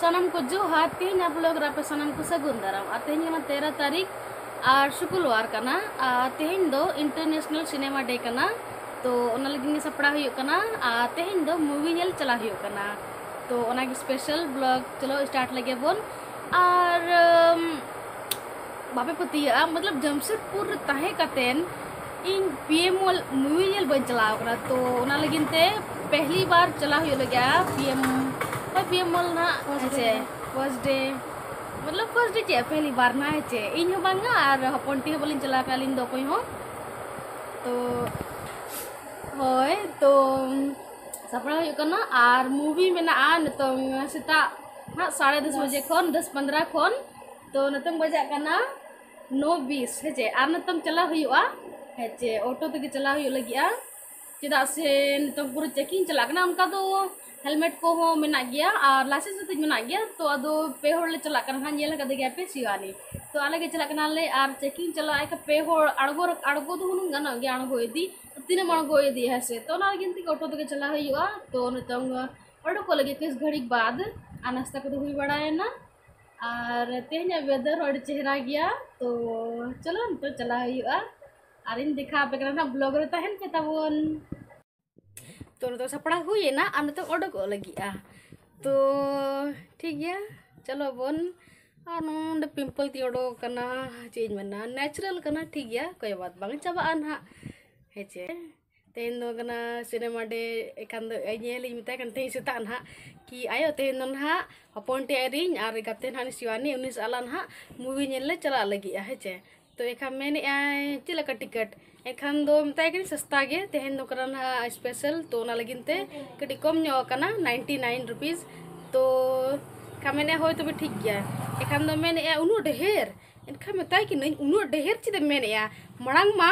ᱥᱟᱱᱟᱢ ᱠᱚ ᱡᱚᱦᱟᱨ ᱛᱮᱦᱮᱧ ᱟᱵᱚ ᱞᱚᱜ ᱨᱟᱯᱮ ᱥᱟᱱᱟᱢ ᱠᱚ ᱥᱟᱹᱜᱩᱱ ᱫᱟᱨᱟᱢ ᱟᱨ ᱛᱮᱦᱮᱧ ᱠᱟᱱᱟ ᱛᱮᱨᱚ ᱛᱟᱹᱨᱤᱠᱷ ᱟᱨ ᱥᱩᱠᱩᱞᱣᱟᱨ ᱠᱟᱱᱟ ᱟᱨ ᱛᱮᱦᱮᱧ ᱫᱚ ᱤᱱᱴᱟᱨᱱᱮᱥᱱᱟᱞ ᱥᱤᱱᱮᱢᱟ ᱰᱮ ᱠᱟᱱᱟ ᱛᱚ ᱚᱱᱟ ᱞᱟᱹᱜᱤᱫ ᱜᱮ ᱥᱟᱯᱲᱟᱣ ᱦᱩᱭᱩᱜ ᱠᱟᱱᱟ ᱟᱨ ᱛᱮᱦᱮᱧ ᱫᱚ ᱢᱩᱵᱷᱤ ᱧᱮᱞ ᱪᱟᱞᱟᱣ ᱦᱩᱭᱩᱜ ᱠᱟᱱᱟ ᱛᱚ ᱚᱱᱟᱜᱮ ᱥᱯᱮᱥᱟᱞ ᱵᱞᱚᱜ ᱪᱚᱞᱚ ᱥᱴᱟᱨᱴ ᱞᱮᱜᱮ ᱵᱚᱱ ᱟᱨ ᱵᱟᱯᱮ ᱯᱟᱹᱛᱭᱟᱹᱜᱼᱟ ᱢᱚᱛᱞᱚᱵ ᱡᱟᱢᱥᱮᱫᱽᱯᱩᱨ ᱨᱮ ᱛᱟᱦᱮᱸ ᱠᱟᱛᱮᱱ ᱤᱧ ᱯᱤ ᱮᱢ ᱢᱚᱞ ᱢᱩᱵᱷᱤ ᱧᱮᱞ ᱵᱟᱹᱧ ᱪᱟᱞᱟᱣ ᱠᱟᱱᱟ ᱛᱚ ᱚᱱᱟ ᱞᱟᱹᱜᱤᱫ ᱛᱮ ᱯᱮᱦᱞᱤ ᱵᱟᱨ ᱪᱟᱞᱟᱣ ᱦᱩᱭᱩᱜ ᱞᱟᱹᱜᱤᱫᱼᱟ ᱯᱤ ᱮᱢ ᱦᱳᱭ ᱯᱤ ᱮᱢ ᱢᱚᱞ ᱱᱟᱜ ᱦᱮᱸᱪᱮ ᱯᱷᱟᱨᱥᱴ ᱰᱮ ᱢᱚᱛᱞᱚᱵ ᱯᱷᱟᱨᱥᱴ ᱰᱮ ᱪᱮᱫ ᱯᱮᱦᱞᱤ ᱵᱟᱨ ᱱᱟᱜ ᱦᱮᱸᱪᱮ ᱤᱧ ᱦᱚᱸ ᱵᱟᱝᱟ ᱟᱨ ᱦᱚᱯᱚᱱ ᱴᱤ ᱦᱚᱸ ᱵᱟᱹᱞᱤᱧ ᱪᱟᱞᱟᱣ ᱠᱟᱱᱟ ᱟᱹᱞᱤᱧ ᱫᱚ ᱚᱠᱚᱭ ᱦᱚᱸ ᱛᱚ ᱦᱳᱭ ᱛᱚ ᱥᱟᱯᱲᱟᱣ ᱦᱩᱭᱩᱜ ᱠᱟᱱᱟ ᱟᱨ ᱢᱩᱵᱷᱤ ᱢᱮᱱᱟᱜᱼᱟ ᱱᱤᱛᱚᱝ ᱥᱮᱛᱟᱜ ᱱᱟᱜ ᱥᱟᱲᱮ ᱫᱚᱥ ᱵᱟᱡᱮ ᱠᱷᱚᱱ ᱫᱚᱥ ᱯᱚᱱᱫᱨᱚ ᱠᱷᱚᱱ ᱛᱚ ᱱᱤᱛᱚᱜ ᱵᱟᱡᱟᱜ ᱠᱟᱱᱟ ᱱᱚ ᱵᱤᱥ ᱦᱮᱸᱪᱮ ᱟᱨ ᱱᱤᱛᱚᱜ ᱪᱟᱞᱟᱣ ᱦᱩᱭᱩᱜᱼᱟ ᱦᱮᱸᱪᱮ ᱚᱴᱳ ᱛᱮᱜᱮ ᱪᱟᱞᱟᱣ ᱦᱩᱭᱩᱜ ᱞᱟᱹᱜᱤᱫᱼᱟ ᱪᱮᱫᱟᱜ ᱥᱮ ᱱᱤᱛᱚᱜ ᱯᱩᱨᱟᱹ ᱪᱮᱠᱤᱝ ᱪᱟᱞᱟᱜ ᱠᱟᱱᱟ ᱚᱱᱠᱟ ᱫᱚ ᱦᱮᱞᱢᱮᱴ ᱠᱚᱦᱚᱸ ᱢᱮᱱᱟᱜ ᱜᱮᱭᱟ ᱟᱨ ᱞᱟᱭᱥᱮᱱᱥ ᱦᱚᱸᱛᱤᱧ ᱢᱮᱱᱟᱜ ᱜᱮᱭᱟ ᱛᱚ ᱟᱫᱚ ᱯᱮ ᱦᱚᱲ ᱞᱮ ᱪᱟᱞᱟᱜ ᱠᱟᱱᱟ ᱦᱟᱸᱜ ᱧᱮᱞ ᱟᱠᱟᱫᱮ ᱜᱮᱭᱟ ᱯᱮ ᱥᱤᱣᱟᱞᱤ ᱛᱚ ᱟᱞᱮ ᱜᱮ ᱪᱟᱞᱟᱜ ᱠᱟᱱᱟᱞᱮ ᱟᱨ ᱪᱮᱠᱤᱝ ᱪᱟᱞᱟᱜ ᱮᱱᱠᱷᱟᱱ ᱯᱮ ᱦᱚᱲ ᱟᱬᱜᱚ ᱟᱬᱜᱚ ᱫᱚ ᱦᱩᱱᱟᱹᱝ ᱜᱟᱱᱚᱜ ᱜᱮᱭᱟ ᱟᱬᱜᱚ ᱤᱫᱤ ᱛᱤᱱᱟᱹᱜ ᱮᱢ ᱟᱬᱜᱚ ᱤᱫᱤᱭᱟ ᱦᱮᱸ ᱥᱮ ᱛᱚ ᱚᱱᱟ ᱞᱟᱹᱜᱤᱫ ᱛᱮᱜᱮ ᱚᱴᱳ ᱛᱮᱜᱮ ᱪᱟᱞᱟᱣ ᱦᱩᱭᱩᱜᱼᱟ ᱛᱚ ᱱᱤᱛᱚᱜ ᱚᱰᱳᱠᱚᱜ ᱞᱟᱹᱜᱤᱫ ᱠᱤᱪᱷᱩ ᱜᱷᱟᱹᱲᱤᱡ ᱵᱟᱫᱽ ᱟᱨ ᱱᱟᱥᱛᱟ ᱠᱚᱫᱚ ᱦᱩᱭ ᱵᱟᱲᱟᱭᱮᱱᱟ ᱟᱨ ᱛᱮᱦᱮᱧᱟᱜ ᱵᱮᱫᱟᱨ ᱦᱚᱸ ᱟᱹᱰᱤ ᱪᱮᱦᱨᱟ ᱜᱮᱭᱟ ᱛᱚ ᱪᱚᱞᱚ ᱱᱤᱛᱚᱜ ᱪᱟᱞᱟᱣ ᱦᱩᱭᱩᱜᱼᱟ ᱟᱨᱤᱧ ᱫᱮᱠᱷᱟᱣ ᱟᱯᱮ ᱠᱟᱱᱟ ᱱᱟᱦᱟᱜ ᱵᱞᱚᱜ ᱨᱮ ᱛᱟᱦᱮᱱ ᱯᱮ ᱛᱟᱵᱚᱱ ᱛᱚ ᱱᱤᱛᱚᱜ ᱥᱟᱯᱲᱟᱣ ᱦᱩᱭᱮᱱᱟ ᱟᱨ ᱱᱤᱛᱚᱜ ᱚᱰᱚᱠᱚᱜ ᱞᱟᱹᱜᱤᱫᱼᱟ ᱛᱚ ᱴᱷᱤᱠ ᱜᱮᱭᱟ ᱪᱚᱞᱚ ᱵᱚᱱ ᱟᱨ ᱱᱚᱰᱮ ᱯᱤᱢᱯᱚᱞ ᱛᱤᱧ ᱚᱰᱚᱠ ᱠᱟᱱᱟ ᱪᱮᱫ ᱤᱧ ᱢᱮᱱᱟ ᱱᱮᱪᱟᱨᱟᱞ ᱠᱟᱱᱟ ᱴᱷᱤᱠ ᱜᱮᱭᱟ ᱠᱚᱭ ᱵᱟᱫ ᱵᱟᱝ ᱪᱟᱵᱟᱜᱼᱟ ᱱᱟᱦᱟᱜ ᱦᱮᱸᱪᱮ ᱛᱮᱦᱮᱧ ᱫᱚ ᱠᱟᱱᱟ ᱥᱤᱱᱮᱢᱟ ᱰᱮ ᱮᱠᱷᱟᱱ ᱫᱚ ᱧᱮᱞᱤᱧ ᱢᱮᱛᱟᱭ ᱠᱟᱱ ᱛᱮᱦᱮᱧ ᱥᱮᱛᱟᱜ ᱱᱟᱦᱟᱜ ᱠᱤ ᱟᱭᱳ ᱛᱮᱦᱮᱧ ᱫᱚ ᱱᱟᱦᱟᱜ ᱦᱚᱯᱚᱱ ᱴᱤ ᱟᱭᱨᱤᱧ ᱟᱨ ᱜᱟᱛᱮ ᱱᱟᱦᱟᱜ ᱥᱤᱣᱟᱱᱤ ᱩᱱᱤ ᱥᱟᱞᱟᱜ ᱱᱟᱦᱟᱜ ᱢᱩᱵᱷᱤ ᱧᱮᱞ ᱞᱮ ᱪᱟᱞᱟᱜ ᱞᱟᱹᱜᱤᱫᱼᱟ ᱦᱮᱸ ᱪᱮ ᱛᱚ ᱮᱱᱠᱷᱟᱱ ᱢᱮᱱᱮᱫ ᱟᱭ ᱪᱮᱫ ᱞᱮᱠᱟ ᱴᱤᱠᱤᱴ ᱮᱱᱠᱷᱟन ᱫᱚ ᱢᱮᱛᱟᱭ ᱠᱟᱹᱱᱟᱹᱧ ᱥᱚᱥᱛᱟ ᱜᱮ ᱛᱮᱦᱮᱧ ᱫᱚ ᱠᱟᱱᱟ ᱱᱟᱦᱟᱜ ᱥᱯᱮᱥᱟᱞ ᱛᱚ ᱚᱱᱟ ᱞᱟᱹᱜᱤᱫ ᱛᱮ ᱠᱟᱹᱴᱤᱡ ᱠᱚᱢ ᱧᱚᱜ ᱟᱠᱟᱱᱟ ᱱᱟᱭᱤᱱᱴᱤ ᱱᱟᱭᱤᱱ ᱨᱩᱯᱤᱥ ᱛᱚ ᱮᱱᱠᱷᱟᱱ ᱢᱮᱱᱮᱫ ᱦᱳᱭ ᱛᱚᱵᱮ ᱴᱷᱤᱠ ᱜᱮᱭᱟ ᱮᱱᱠᱷᱟᱱ ᱫᱚ ᱢᱮᱱᱮᱫ ᱟᱭ ᱩᱱᱟᱹᱜ ᱰᱷᱮᱨ ᱮᱱᱠᱷᱟᱱ ᱢᱮᱛᱟᱭ ᱠᱟᱹᱱᱟᱹᱧ ᱩᱱᱟᱹᱜ ᱰᱷᱮᱨ ᱪᱮᱫ ᱮᱢ ᱢᱮᱱᱮᱫᱼᱟ ᱢᱟᱲᱟᱝ ᱢᱟ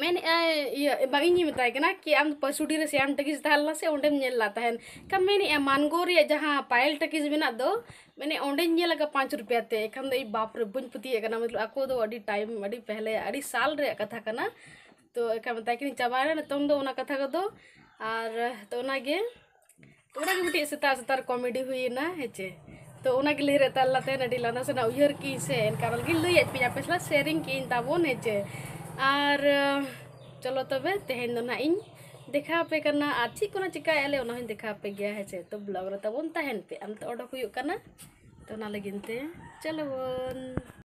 ᱢᱮᱱᱮᱫ ᱟᱭ ᱤᱭᱟᱹ ᱵᱟᱝ ᱤᱧᱤᱧ ᱢᱮᱛᱟᱭ ᱠᱟᱱᱟ ᱠᱤ ᱟᱢ ᱯᱟᱹᱥᱩᱰᱤ ᱨᱮ ᱥᱮᱭᱟᱢ ᱴᱟᱹᱠᱤᱡ ᱛᱟᱦᱮᱸ ᱞᱮᱱᱟ ᱥᱮ ᱚᱸᱰᱮᱢ ᱧᱮᱞ ᱞᱮᱫ ᱛᱟᱦᱮᱱ ᱠᱷᱟᱱ ᱢᱮᱱᱮᱫ ᱟᱭ ᱢᱟᱱᱜᱳ ᱨᱮᱭᱟᱜ ᱡᱟᱦᱟᱸ ᱯᱟᱭᱮᱞ ᱴᱟᱹᱠᱤᱡ ᱢᱮᱱᱟᱜ ᱫᱚ ᱢᱟᱱᱮ ᱚᱸᱰᱮᱧ ᱧᱮᱞ ᱟᱠᱟᱫ ᱯᱟᱸᱪ ᱨᱩᱯᱤᱭᱟ ᱛᱮ ᱮᱱᱠᱷᱟᱱ ᱫᱚ ᱤᱧ ᱵᱟᱯ ᱨᱮ ᱵᱟᱹᱧ ᱯᱟᱹᱛᱭᱟᱹᱜ ᱠᱟᱱᱟ ᱢᱚᱛᱞᱚᱵ ᱟᱠᱚ ᱫᱚ ᱟᱹᱰᱤ ᱴᱟᱭᱤᱢ ᱟᱹᱰᱤ ᱯᱮᱦᱞᱮ ᱟᱹᱰᱤ ᱥᱟᱞ ᱨᱮᱭᱟᱜ ᱠᱟᱛᱷᱟ ᱠᱟᱱᱟ ᱛᱚ ᱮᱱᱠᱷᱟᱱ ᱢᱮᱛᱟᱭ ᱠᱟᱹᱱᱟᱹᱧ ᱪᱟᱵᱟᱭᱮᱱᱟ ᱱᱤᱛᱚᱝ ᱫᱚ ᱚᱱᱟ ᱠᱟᱛᱷᱟ ᱠᱚᱫᱚ ᱟᱨ ᱛᱚ ᱚᱱᱟᱜᱮ ᱚᱱᱟ ᱜᱮ ᱢᱤᱫᱴᱤᱡ ᱥᱮᱛᱟᱜ ᱥᱮᱛᱟᱜ ᱨᱮ ᱠᱚᱢᱮᱰᱤ ᱦᱩᱭᱮᱱᱟ ᱦᱮᱸᱪᱮ ᱛᱚ ᱚᱱᱟ ᱜᱮ ᱞᱟᱹᱭ ᱨᱮ ᱛᱟᱦᱮᱸ ᱞᱮᱱᱟ ᱛᱟᱦᱮᱸ ᱟᱹᱰᱤ ᱞᱟᱸᱫᱟ ᱥᱟᱱᱟ ᱩᱭᱦᱟᱹᱨ ᱠᱤᱧ ᱥᱮ ᱮᱱᱠᱟ ᱵᱚᱞᱮ ᱜᱮ ᱞᱟᱹᱭᱟᱫ ᱯᱮᱭᱟ ᱟᱯᱮ ᱥᱟᱞᱟᱜ ᱥᱮᱭᱟᱨᱤᱝ ᱠᱤᱧ ᱛᱟᱵᱚᱱ ᱦᱮᱸᱪᱮ ᱟᱨ ᱪᱚᱞᱚ ᱛᱚᱵᱮ ᱛᱮᱦᱮᱧ ᱫᱚ ᱱᱟᱦᱟᱜ ᱤᱧ ᱫᱮᱠᱷᱟᱣ ᱟᱯᱮ ᱠᱟᱱᱟ ᱟᱨ ᱪᱮᱫ ᱠᱚ ᱱᱟᱦᱟᱜ ᱪᱤᱠᱟᱹᱭᱮᱫ ᱞᱮ ᱚᱱᱟ ᱦᱚᱸᱧ ᱫᱮᱠᱷᱟᱣ ᱟᱯᱮ ᱜᱮᱭᱟ ᱦᱮᱸᱪᱮ ᱛᱚ ᱵᱞᱚᱜᱽ ᱨᱮ ᱛᱟᱵᱚᱱ ᱛᱟᱦᱮᱱ ᱯᱮ ᱟᱢ ᱛᱮ ᱚᱰᱚᱠ ᱦᱩᱭᱩᱜ ᱠᱟᱱᱟ ᱛᱚ ᱚᱱᱟ ᱞᱟᱹᱜᱤᱫ ᱛᱮ ᱪᱚᱞᱚ ᱵᱚᱱ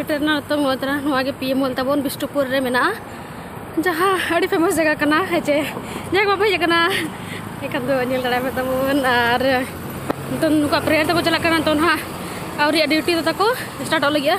ᱥᱮᱴᱮᱨᱱᱟ ᱱᱤᱛᱚᱝ ᱱᱚᱣᱟ ᱛᱟᱨᱟ ᱱᱚᱣᱟ ᱜᱮ ᱯᱤ ᱮᱢ ᱢᱚᱞ ᱛᱟᱵᱚᱱ ᱵᱤᱥᱱᱩᱯᱩᱨ ᱨᱮ ᱢᱮᱱᱟᱜᱼᱟ ᱡᱟᱦᱟᱸ ᱟᱹᱰᱤ ᱯᱷᱮᱢᱟᱥ ᱡᱟᱭᱜᱟ ᱠᱟᱱᱟ ᱦᱮᱸᱪᱮ ᱡᱟᱭᱜᱟ ᱵᱟᱵᱚ ᱦᱮᱡ ᱟᱠᱟᱱᱟ ᱮᱱᱠᱷᱟᱱ ᱫᱚ ᱧᱮᱞ ᱫᱟᱲᱮᱭᱟᱜ ᱛᱟᱵᱚᱱ ᱟᱨ ᱱᱤᱛᱚᱝ ᱱᱩᱠᱩᱣᱟᱜ ᱯᱨᱮᱭᱟᱨ ᱛᱮᱠᱚ ᱪᱟᱞᱟᱜ ᱠᱟᱱᱟ ᱱᱤᱛᱚᱝ ᱦᱟᱸᱜ ᱟᱹᱣᱨᱤᱭᱟᱜ ᱰᱤᱭᱩᱴᱤ ᱫᱚ ᱛᱟᱠᱚ ᱥᱴᱟᱨᱴᱚᱜ ᱞᱟᱹᱜᱤᱫᱼᱟ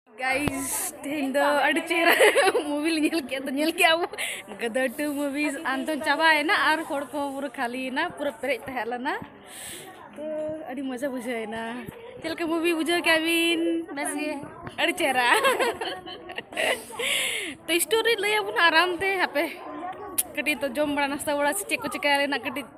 ᱜᱟᱭᱤᱡ ᱛᱮᱦᱮᱧ ᱫᱚ ᱟᱹᱰᱤ ᱪᱮᱦᱨᱟ ᱢᱩᱵᱷᱤ ᱞᱮ ᱧᱮᱞ ᱠᱮᱫ ᱫᱚ ᱧᱮᱞ ᱠᱮᱫ ᱟᱵᱚ ᱜᱟᱫᱟᱨ ᱴᱩ ᱢᱩᱵᱷᱤᱡ ᱟᱱᱛᱚ ᱪᱟᱵᱟᱭᱮᱱᱟ ᱟᱨ ᱦᱚᱲ ᱠᱚ ᱯᱩᱨᱟᱹ ᱠᱷᱟᱹᱞᱤᱭᱮᱱᱟ ᱯᱩᱨᱟᱹ ᱯᱮᱨᱮᱡ ᱛᱟᱦᱮᱸ ᱞᱮᱱᱟ ᱛᱚ ᱟᱹᱰᱤ ᱢᱚᱡᱟ ᱵᱩᱡᱷᱟᱹᱣᱮᱱᱟ ᱪᱮᱫ ᱞᱮᱠᱟ ᱢᱩᱵᱷᱤ ᱵᱩᱡᱷᱟᱹᱣ ᱠᱮᱫ ᱵᱤᱱ ᱵᱮᱥ ᱜᱮ ᱟᱹᱰᱤ ᱪᱮᱦᱨᱟ ᱛᱚ ᱥᱴᱳᱨᱤ ᱞᱟᱹᱭ ᱟᱵᱚᱱᱟ ᱟᱨᱟᱢ ᱛᱮ ᱦᱟᱯᱮ ᱠᱟᱹᱴᱤᱡ ᱛᱚ ᱡᱚᱢ ᱵᱟᱲᱟ ᱱᱟᱥᱛᱟ ᱵᱟᱲᱟ ᱥᱮ ᱪᱮᱫ ᱠᱚ ᱪᱤᱠᱟᱹ ᱨᱮᱱᱟᱜ ᱠᱟᱹᱴᱤᱡ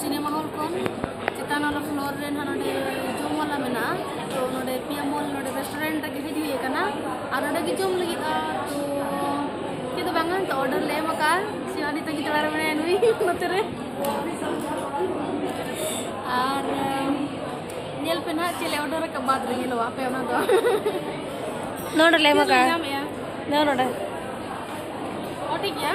ᱥᱤᱱᱮᱢᱟ ᱦᱚᱞ ᱠᱷᱚᱱ ᱪᱮᱛᱟᱱ ᱟᱞᱚ ᱯᱷᱞᱳᱨ ᱨᱮ ᱱᱟᱦᱟᱜ ᱱᱚᱰᱮ ᱡᱚᱢ ᱣᱟᱞᱟ ᱢᱮᱱᱟᱜᱼᱟ ᱛᱚ ᱱᱚᱰᱮ ᱯᱤᱭᱟ ᱢᱚᱞ ᱱᱚᱰᱮ ᱨᱮᱥᱴᱩᱨᱮᱱᱴ ᱨᱮᱜᱮ ᱦᱮᱡ ᱦᱩᱭ ᱟᱠᱟᱱᱟ ᱟᱨ ᱱᱚᱰᱮ ᱜᱮ ᱡᱚᱢ ᱞᱟᱹᱜᱤᱫᱼᱟ ᱛᱚ ᱪᱮᱫ ᱫᱚ ᱵᱟᱝᱟ ᱛᱚ ᱚᱨᱰᱟᱨ ᱞᱮ ᱮᱢ ᱟᱠᱟᱫᱼᱟ ᱥᱤᱣᱟᱱᱤ ᱛᱟᱹᱜᱤ ᱛᱟᱲᱟᱨᱮ ᱢᱮᱱᱟᱭᱟ ᱱᱩᱭ ᱱᱚᱛᱮ ᱨᱮ ᱟᱨ ᱧᱮᱞ ᱯᱮ ᱱᱟᱦᱟᱜ ᱪᱮᱫ ᱞᱮ ᱚᱨᱰᱟᱨ ᱟᱠᱟᱫ ᱵᱟᱫ ᱨᱮ ᱧᱮᱞᱚᱜᱼᱟ ᱟᱯᱮ ᱚᱱᱟ ᱫᱚ ᱱᱚᱰᱮ ᱞᱮ ᱮᱢ ᱪᱮᱫ ᱞᱮ ᱟᱠᱟᱫᱼᱟ ᱧᱟᱢᱮᱜᱼᱟ ᱱᱚᱰᱮ ᱚ ᱴᱷᱤᱠ ᱜᱮᱭᱟ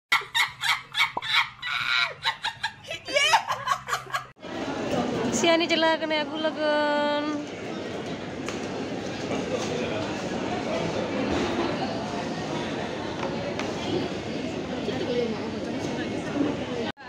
ᱥᱤᱭᱟᱱᱤ ᱪᱟᱞᱟᱣ ᱠᱟᱱᱟ ᱟᱹᱜᱩ ᱞᱟᱹᱜᱤᱫ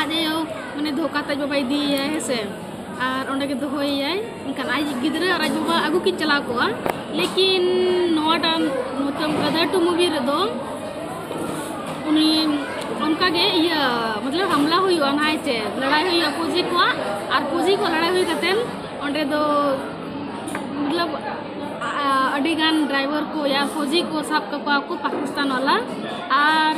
ᱟᱡ ᱟᱭᱳ ᱢᱟᱱᱮ ᱫᱷᱳᱠᱟ ᱛᱮ ᱵᱟᱵᱟᱭ ᱤᱫᱤᱭᱮᱭᱟ ᱦᱮᱸ ᱥᱮ ᱟᱨ ᱚᱸᱰᱮ ᱜᱮ ᱫᱚᱦᱚᱭᱮᱭᱟᱭ ᱮᱱᱠᱷᱟᱱ ᱟᱡ ᱜᱤᱫᱽᱨᱟᱹ ᱟᱨ ᱟᱡ ᱵᱟᱵᱟ ᱟᱹᱜᱩ ᱠᱤᱱ ᱪᱟᱞᱟᱣ ᱠᱚᱜᱼᱟ ᱞᱮᱠᱤᱱ ᱱᱚᱣᱟᱴᱟᱜ ᱢᱚᱛᱞᱚᱵ ᱜᱟᱫᱷᱟ ᱴᱩ ᱢᱩᱵᱷᱤ ᱨᱮᱫᱚ ᱩᱱᱤ ᱚᱱᱠᱟ ᱜᱮ ᱤᱭᱟᱹ ᱢᱚᱛᱞᱚᱵ ᱦᱟᱢᱞᱟ ᱦᱩᱭᱩᱜᱼᱟ ᱱᱟᱭ ᱛᱮ ᱞᱟᱲᱟᱭ ᱦᱩᱭᱩᱜᱼᱟ ᱯᱩᱡᱤ ᱠᱚᱣᱟᱜ ᱟᱨ ᱯᱩᱡᱤ ᱠᱚ ᱞᱟᱲᱟᱭ ᱦᱩᱭ ᱠᱟᱛᱮᱫ ᱚᱸᱰᱮ ᱫᱚ ᱢᱚᱛᱞᱚᱵ ᱟᱹᱰᱤ ᱜᱟᱱ ᱰᱨᱟᱭᱵᱷᱟᱨ ᱠᱚ ᱭᱟ ᱯᱷᱚᱡᱤ ᱠᱚ ᱥᱟᱵ ᱠᱟᱠᱚᱣᱟ ᱠᱚ ᱯᱟᱠᱤᱥᱛᱟᱱ ᱣᱟᱞᱟ ᱟᱨ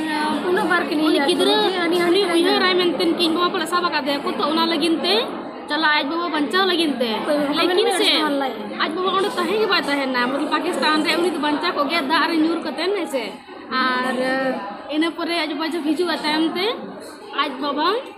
ᱩᱱᱟᱹᱜ ᱵᱟᱨ ᱠᱤᱱ ᱩᱱᱤ ᱜᱤᱫᱽᱨᱟᱹ ᱦᱟᱹᱱᱤ ᱦᱟᱹᱱᱤ ᱩᱭᱦᱟᱹᱨᱟᱭ ᱢᱮᱱᱛᱮ ᱠᱤ ᱤᱧ ᱵᱟᱵᱟ ᱯᱟᱞᱮ ᱥᱟᱵ ᱟᱠᱟᱫᱮᱭᱟ ᱠᱚ ᱛᱚ ᱚᱱᱟ ᱞᱟᱹᱜᱤᱫ ᱛᱮ ᱪᱟᱞᱟᱜ ᱟᱡ ᱵᱟᱵᱟ ᱵᱟᱧᱪᱟᱣ ᱞᱟᱹᱜᱤᱫ ᱛᱮ ᱞᱮᱠᱤᱱ ᱥᱮ ᱟᱡ ᱵᱟᱵᱟ ᱚᱸᱰᱮ ᱛᱟᱦᱮᱸ ᱜᱮ ᱵᱟᱭ ᱛᱟᱦᱮᱱᱟ ᱢᱚᱛᱞᱚᱵ ᱯᱟᱠᱤᱥᱛᱟᱱ ᱨᱮ ᱩᱱᱤ ᱫᱚ ᱵᱟᱧᱪᱟᱣ ᱠᱚᱜ ᱜᱮᱭᱟ ᱫᱟᱜ ᱨᱮ ᱧᱩᱨ ᱠᱟᱛᱮᱱ ᱦᱮᱸ ᱥᱮ ᱟᱨ ᱤᱱᱟᱹ ᱯᱚᱨᱮ ᱟᱡ ᱵᱟᱵᱟ ᱡᱚᱵ ᱦᱤᱡᱩᱜᱼᱟ ᱛᱟᱭᱚᱢ ᱛᱮ ᱟᱡ ᱵᱟᱵᱟ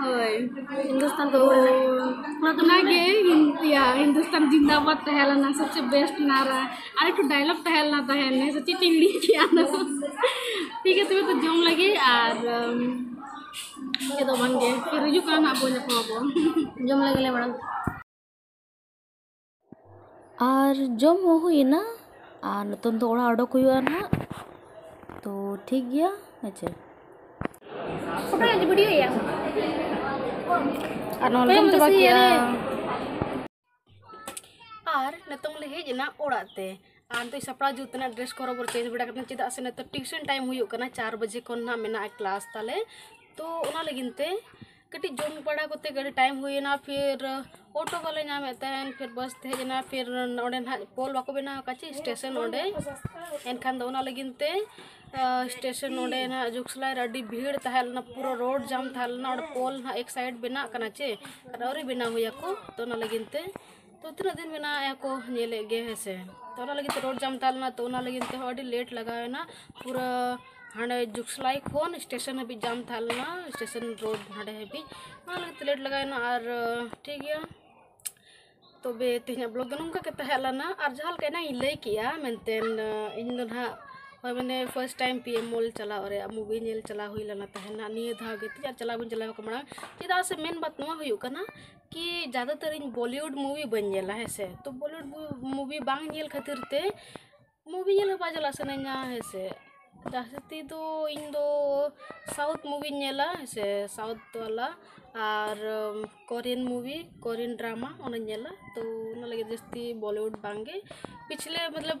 ᱦᱳᱭ ᱦᱤᱱᱫᱩᱥᱛᱟᱱ ᱫᱚ ᱚᱱᱟᱜᱮ ᱤᱭᱟ ᱦᱤᱱᱫᱩᱥᱛᱟᱱ ᱡᱤᱱᱫᱟᱵᱟᱫ ᱛᱟᱦᱮᱸ ᱞᱮᱱᱟ ᱥᱚᱵᱥᱮ ᱵᱮᱥᱴ ᱱᱟᱨᱟ ᱟᱨ ᱮᱠᱴᱩ ᱰᱟᱭᱞᱚᱜ ᱛᱟᱦᱮᱸ ᱞᱮᱱᱟ ᱛᱟᱦᱮᱸ ᱞᱮᱱᱟ ᱥᱮ ᱪᱮᱫ ᱪᱚᱧ ᱦᱤᱲᱤᱧ ᱠᱮᱜᱼᱟ ᱚᱱᱟ ᱫᱚ ᱴᱷᱤᱠ ᱜᱮᱭᱟ ᱛᱚᱵᱮ ᱛᱚ ᱡᱚᱢ ᱞᱟᱹᱜᱤᱫ ᱟᱨ ᱪᱮᱫ ᱫᱚ ᱵᱟᱝᱜᱮ ᱯᱷᱤᱨ ᱦᱤᱡᱩᱜ ᱠᱟᱱᱟ ᱦᱟᱸᱜ ᱵᱚᱱ ᱧᱟᱯᱟᱢ ᱟᱵᱚᱱ ᱡᱚᱢ ᱞᱟᱹᱜᱤᱫ ᱞᱮ ᱢᱟᱲᱟᱝ ᱟᱨ ᱡᱚᱢ ᱦᱚᱸ ᱦᱩᱭᱮᱱᱟ ᱟᱨ ᱱᱤᱛᱚᱝ ᱫᱚ ᱚᱲᱟᱜ ᱚᱰᱚᱠ ᱦᱩᱭᱩᱜᱼᱟ ᱱᱟᱦᱟᱜ ᱛᱚ ᱴᱷᱤᱠ ᱜᱮᱭᱟ ᱦᱮᱸᱪᱮ ᱟᱨ ᱱᱚᱣᱟ ᱡᱚᱢ ᱪᱟᱵᱟ ᱠᱮᱜᱼᱟ ᱟᱨ ᱱᱤᱛᱚᱝ ᱞᱮ ᱦᱮᱡ ᱮᱱᱟ ᱚᱲᱟᱜ ᱛᱮ ᱟᱨ ᱱᱤᱛᱚᱜ ᱥᱟᱯᱲᱟᱣ ᱡᱩᱛ ᱮᱱᱟ ᱰᱨᱮᱥ ᱠᱚ ᱨᱚᱵᱚᱨ ᱪᱮᱧᱡᱽ ᱵᱟᱲᱟ ᱠᱟᱛᱮ ᱪᱮᱫᱟᱜ ᱥᱮ ᱱᱤᱛᱚᱜ ᱴᱤᱭᱩᱥᱚᱱ ᱴᱟᱭᱤᱢ ᱦᱩᱭᱩᱜ ᱠᱟᱱᱟ ᱪᱟᱨ ᱵᱟᱡᱮ ᱠᱷᱚᱱ ᱱᱟᱦᱟᱜ ᱢᱮᱱᱟᱜᱼᱟ ᱠᱞᱟᱥ ᱛᱟᱞᱮ ᱛᱚ ᱚᱱᱟ ᱞᱟᱹᱜᱤᱫ ᱛᱮ ᱠᱟᱹᱴᱤᱡ ᱡᱚᱢ ᱵᱟᱲᱟ ᱠᱚᱛᱮ ᱜᱮ ᱟᱹᱰᱤ ᱴᱟᱭᱤᱢ ᱦᱩᱭᱮᱱᱟ ᱯᱷᱤᱨ ᱚᱴᱳ ᱵᱟᱞᱮ ᱧᱟᱢᱮᱫ ᱛᱟᱦᱮᱱ ᱯᱷᱤᱨ ᱵᱟᱥ ᱛᱮ ᱦᱮᱡ ᱮᱱᱟ ᱯᱷᱤᱨ ᱚᱸᱰᱮ ᱱᱟᱜ ᱯᱳᱞ ᱵᱟᱠᱚ ᱵᱮᱱᱟᱣ ᱟᱠᱟᱫ ᱪᱮ ᱥᱴᱮᱥᱚᱱ ᱚᱸᱰᱮ ᱮᱱᱠᱷᱟᱱ ᱫᱚ ᱚᱱᱟ ᱞᱟᱹᱜᱤᱫ ᱛᱮ ᱥᱴᱮᱥᱚᱱ ᱚᱸᱰᱮ ᱱᱟᱜ ᱡᱩᱜᱽᱥᱟᱞᱟ ᱨᱮ ᱟᱹᱰᱤ ᱵᱷᱤᱲ ᱛᱟᱦᱮᱸ ᱞᱮᱱᱟ ᱯᱩᱨᱟᱹ ᱨᱳᱰ ᱡᱟᱢ ᱛᱟᱦᱮᱸ ᱞᱮᱱᱟ ᱚᱸᱰᱮ ᱯᱳᱞ ᱱᱟᱜ ᱮᱠ ᱥᱟᱭᱤᱰ ᱵᱮᱱᱟᱜ ᱠᱟᱱᱟ ᱪᱮ ᱟᱨ ᱟᱹᱣᱨᱤ ᱵᱮᱱᱟᱣ ᱦᱩᱭ ᱟᱠᱚ ᱛᱳ ᱚᱱᱟ ᱞᱟᱹᱜᱤᱫ ᱛᱮ ᱛᱚ ᱛᱤᱱᱟᱹᱜ ᱫᱤᱱ ᱢᱮᱱᱟᱜᱼᱟ ᱠᱚ ᱧᱮᱞᱮᱫ ᱜᱮ ᱦᱮᱸ ᱥᱮ ᱛᱚ ᱚᱱᱟ ᱞᱟᱹᱜᱤᱫ ᱛᱮ ᱨᱳᱰ ᱡᱟᱢ ᱛᱟᱦᱮᱸ ᱞᱮᱱᱟ ᱛᱚ ᱚᱱᱟ ᱞᱟᱹᱜᱤᱫ ᱛᱮᱦᱚᱸ ᱟᱹᱰᱤ ᱞᱮᱴ ᱞᱟᱜᱟᱣᱮᱱᱟ ᱯᱩᱨᱟᱹ ᱦᱟᱸᱰᱮ ᱡᱩᱜᱽᱥᱞᱟᱭ ᱠᱷᱚᱱ ᱥᱴᱮᱥᱚᱱ ᱦᱟᱹᱵᱤᱡ ᱡᱟᱢ ᱛᱟᱦᱮᱸ ᱞᱮᱱᱟ ᱥᱴᱮᱥᱚᱱ ᱨᱳᱰ ᱦᱟᱸᱰᱮ ᱦᱟᱹᱵᱤᱡ ᱚᱱᱟ ᱞᱟᱹᱜᱤᱫ ᱛᱮ ᱞᱮᱴ ᱞᱟᱜᱟᱣᱮᱱᱟ ᱟᱨ ᱴᱷᱤᱠ ᱜᱮᱭᱟ ᱛᱚᱵᱮ ᱛᱮᱦᱮᱧᱟᱜ ᱵᱞᱚᱜᱽ ᱫᱚ ᱱᱚᱝᱠᱟ ᱜᱮ ᱛᱟᱦᱮᱸ ᱞᱮᱱᱟ ᱟᱨ ᱡᱟᱦᱟᱸ ᱞᱮᱠᱟ ᱮᱱᱟᱝ ᱤᱧ ᱞᱟᱹᱭ ᱠᱮᱜᱼᱟ ᱢᱮᱱᱛᱮ ᱤᱧ ᱫᱚ ᱱᱟᱦᱟᱜ ᱦᱳᱭ ᱢᱟᱱᱮ ᱯᱷᱟᱨᱥᱴ ᱴᱟᱭᱤᱢ ᱯᱤ ᱮᱢ ᱢᱚᱞ ᱪᱟᱞᱟᱣ ᱨᱮᱭᱟᱜ ᱢᱩᱵᱷᱤ ᱧᱮᱞ ᱪᱟᱞᱟᱣ ᱦᱩᱭ ᱞᱮᱱᱟ ᱛᱟᱦᱮᱱᱟ ᱱᱤᱭᱟᱹ ᱫᱷᱟᱣ ᱜᱮ ᱛᱤᱧ ᱟᱨ ᱪᱟᱞᱟᱣ ᱵᱟᱹᱧ ᱪᱟᱞᱟᱣ ᱠᱟᱱᱟ ᱢᱟᱲᱟᱝ ᱪᱮᱫᱟᱜ ᱥᱮ ᱢᱮᱱ ᱵᱟᱛ ᱱᱚᱣᱟ ᱦᱩᱭᱩᱜ ᱠᱟᱱᱟ ᱠᱤ ᱡᱟᱫᱟᱛᱚᱨ ᱤᱧ ᱵᱚᱞᱤᱭᱩᱰ ᱢᱩᱵᱷᱤ ᱵᱟᱹᱧ ᱧᱮᱞᱟ ᱦᱮᱸ ᱥᱮ ᱛᱚ ᱵᱚᱞᱤᱭᱩᱰ ᱢᱩᱵᱷᱤ ᱵᱟᱝ ᱧᱮᱞ ᱠᱷᱟᱹᱛᱤᱨ ᱛᱮ ᱢᱩᱵᱷᱤ ᱧᱮᱞ ᱦᱚᱸ ᱵᱟᱝ ᱪᱟᱞᱟᱜ ᱥᱟᱱᱟᱧᱟ ᱦᱮᱸ ᱥᱮ ᱡᱟᱹᱥᱛᱤ ᱫᱚ ᱤᱧ ᱫᱚ ᱥᱟᱣᱩᱛᱷ ᱢᱩᱵᱷᱤᱧ ᱧᱮᱞᱟ ᱦᱮᱸ ᱥᱮ ᱥᱟᱣᱩᱛᱷ ᱵᱟᱞᱟ ᱟᱨ ᱠᱳᱨᱤᱭᱟᱱ ᱢᱩᱵᱷᱤ ᱠᱳᱨᱤᱭᱟᱱ ᱰᱨᱟᱢᱟ ᱚᱱᱟᱧ ᱧᱮᱞᱟ ᱛᱚ ᱚᱱᱟ ᱞᱟᱹᱜᱤᱫ ᱡᱟᱹᱥᱛᱤ ᱵᱚᱞᱤᱭᱩᱰ ᱵᱟᱝᱜᱮ ᱯᱤᱪᱷᱞᱮ ᱢᱚᱛᱞᱚᱵ